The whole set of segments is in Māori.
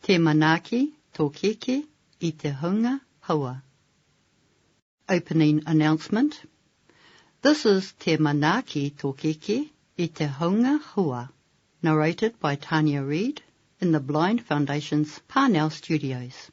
Tē manaaki tō kēkē i te hunga haua. Opening announcement This is Tē manaaki tō kēkē i te hunga haua, narrated by Tania Reid in the Blind Foundation's Parnell Studios.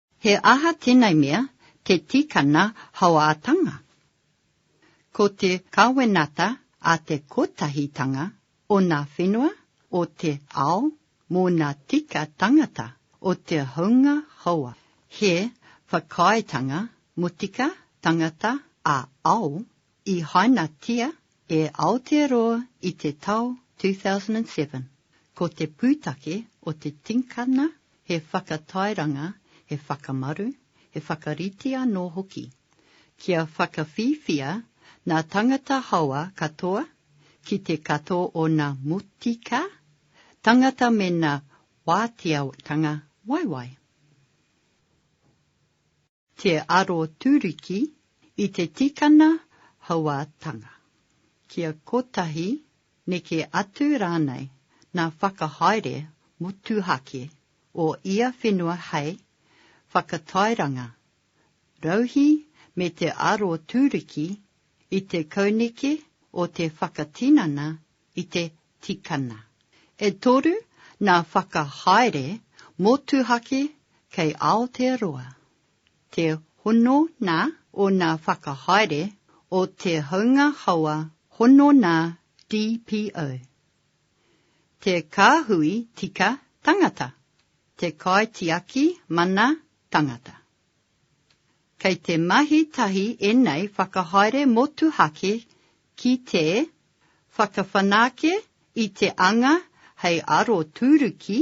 He aha tenei mea te tikana hauātanga? Ko te kawenata a te kotahitanga o nā whenua o te ao mō nā tika tangata o te hounga hauā. He whakaaetanga motika tangata ā-ao I hainatia e Aotearoa i te tau 2007. Ko te pūtake o te tikanga he whakatairanga, he whakamaru, he whakarite anō hoki, kia whakawhiwhia nā tangata haoa katoa ki te kato o nā motika tangata me nā wāteatanga waiwai. Te Aroturiki i te tikanga hauātanga. Kia kotahi, neke atu rānei ngā whakahaere motuhake o ia whenua hei, whakatairanga, rauhī me te aroturiki i te kauneke o te whakatinana i te tikana. E toru nā whakahaere motuhake kei Aotearoa. Te hono nā o nā whakahaere o Te Haunga Hawa hono nā DPO. Te kāhui tika tangata, te kaitiaki mana tangata. Kei te mahi tahi ēnei whakahaere motuhake ki te whakawhanake i te anga hei aroturuki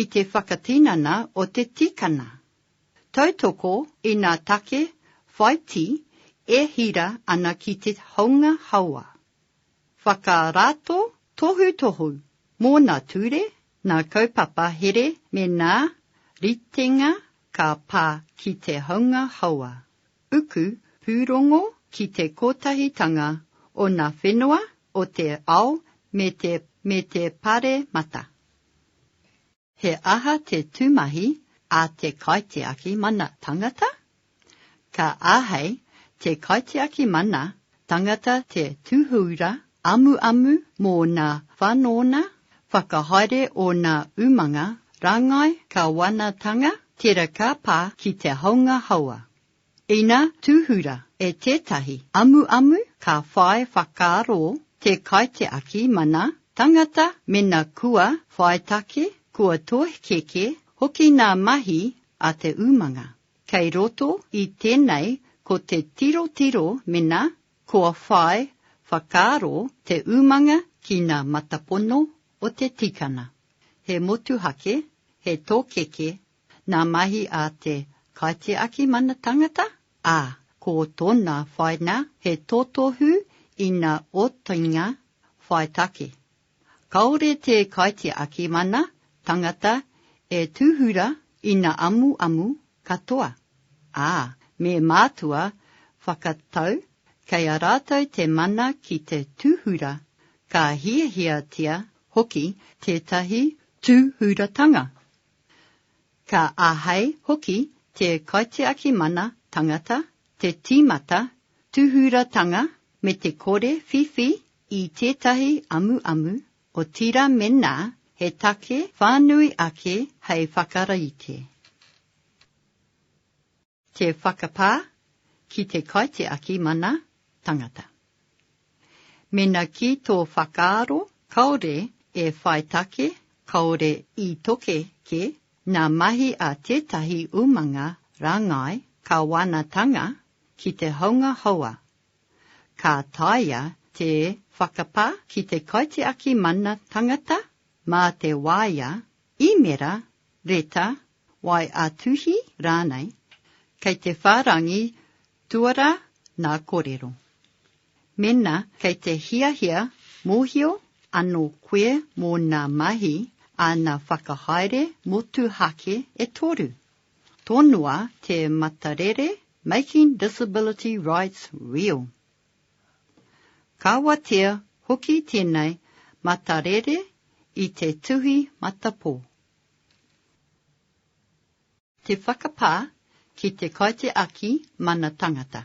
i te whakatinana o te tikana. Tautoko i ngā take whaiti e hira ana ki te haunga hawa. Whakarato tohutohu mōna ture Nā kaupapa here me nā ritenga ka pā ki te haunga hawa, uku pūrongo ki te kotahitanga o nā whenua o te ao me te me te paremata. He aha te tūmahi a te kaitiaki mana tangata? Ka āhei te kaitiaki mana tangata te tūhura amuamu mō ngā whanonga whakahaere o ngā umanga rāngai kāwanatanga tērā ka pā ki te haunga hawa. Ina tūhura e tētahi amuamu ka whai whakaaro te kaitiaki mana tangata mēnā kua whaitake, kua tōhekeke hoki ngā mahi a te umanga. Kei roto i tēnei ko te tirotiro mena kua whai whakaaro te umanga ki nā matapono o te tikana, he motuhake, he tokeke, nā mahi a te kaitiaki mana tangata, ā, ko tōna whaina he totohu ina otinga whai take, Kāore te kaitiaki mana tangata e tūhura ina amuamu katoa, ā, me mātua whakatau kei a rātou te mana ki te tūhura, ka hiahiatia hoki tētahi tūhuratanga. Ka āhei hoki te kaitiaki mana tangata te tīmata tūhuratanga me te kore whiwhi i tētahi amuamu, otirā mēnā he take whānui ake hei whakarite. Te whakapā ki te kaitiaki mana tangata. Mēnā ki tō whakaaro kāore e whai take, kāore i toke kē, nā mahi a tētahi umanga rāngai kāwanatanga ki te haunga houa Ka taea te whakapā ki te kaitiaki mana tangata mā te waea, īmera, reta, waeatuhi rānei, kei te whārangi tuarā nā kōrero. Mēnā kei te hiahia mōhio anō koe mō nā mahi āna whakahaere motuhake e toru, Tonoa te matarere Making Disability Rights Real. Ka watea hoki tēnei matarere i te tuhi matapō. Te whakapā ki te kaitiaki mana tangata.